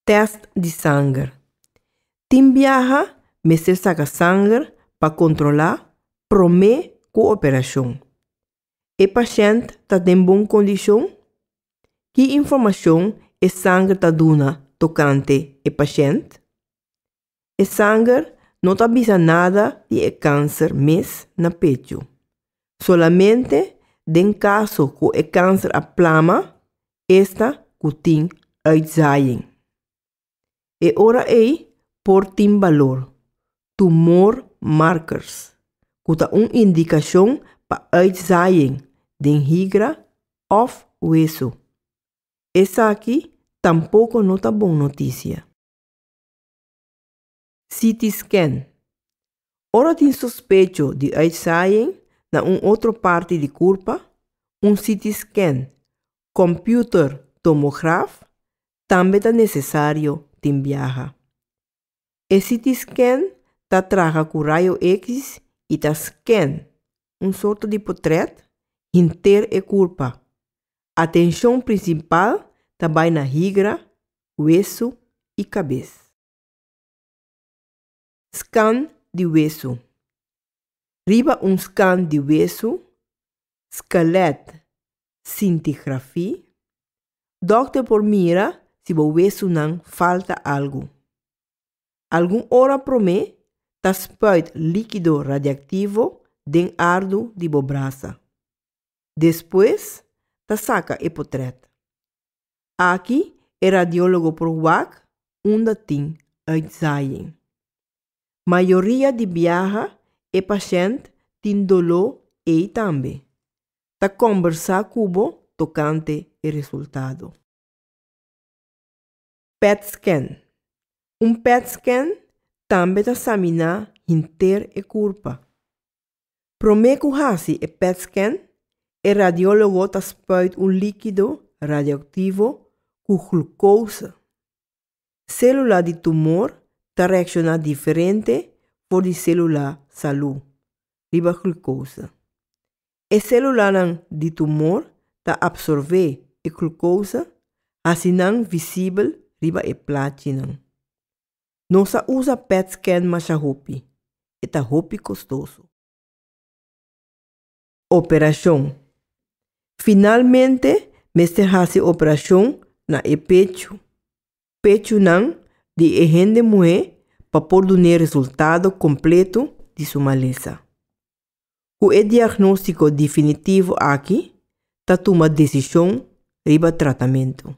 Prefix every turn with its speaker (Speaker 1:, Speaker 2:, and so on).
Speaker 1: Tèst di sanger. Tin biaha mester saka sanger pa kontrolá promé ku operashon. E pashènt ta den bon kondishon? Ki informashon e sanger ta duna tokante e pashènt? E sanger no ta bisa nada di e kanser mes na pechu. Solamente den kaso ku e kanser a plama esta ku tin uitzaaiing. E ora ei por tin balor tumor markers, ku ta un indikashon pa uitzaaiing den higra òf wesu. Esaki tampoko no ta bon notisia. CT scan. Ora tin sospecho di uitzaaiing na un otro parti di kurpa, un CT scan, computer tomograf, tambe ta nesesario tin biaha. E CT scan ta traha ku rayo eksis i ta scan, un sorto di potret, hinter e kurpa. Atenshon prinsipal ta bai na higra, wesu i kabes. Skan di wesu. Riba un skan di wesu, skelèt, sintigrafí, dòkter por mira si bo wesunan falta algu. Algun ora promé ta spuit líkido radiaktivo den ardu di bo brasa. Despues ta saca e potret. Aki e radiologo por wak unda tin uitzaaiing. Mayoria di biaha e pashent tin doló ei tambe. Ta combersa cu bo tocante e resultado. Pet scan. Un pet scan tambe ta saminá hinter e kurpa. Promé ku hasi e pet scan, e radiólogo ta spuit un líkido radioaktivo ku glukouse. Sélula di tumor ta reakshoná diferente for di sélula salú riba glukouse. E selulanan di tumor ta absorbé e klukosa, hasi nan visibel riba e plachinan. No sa usa pet scan masha hopi, e ta hopi kostoso. Operashon, Finalmente mester hasi operashon na e pechu, pechunan, di e hende muhé pa por dun'é resultado kompletu di su malesa. Ku e diagnóstiko definitivo aki ta tuma desishon riba tratamentu.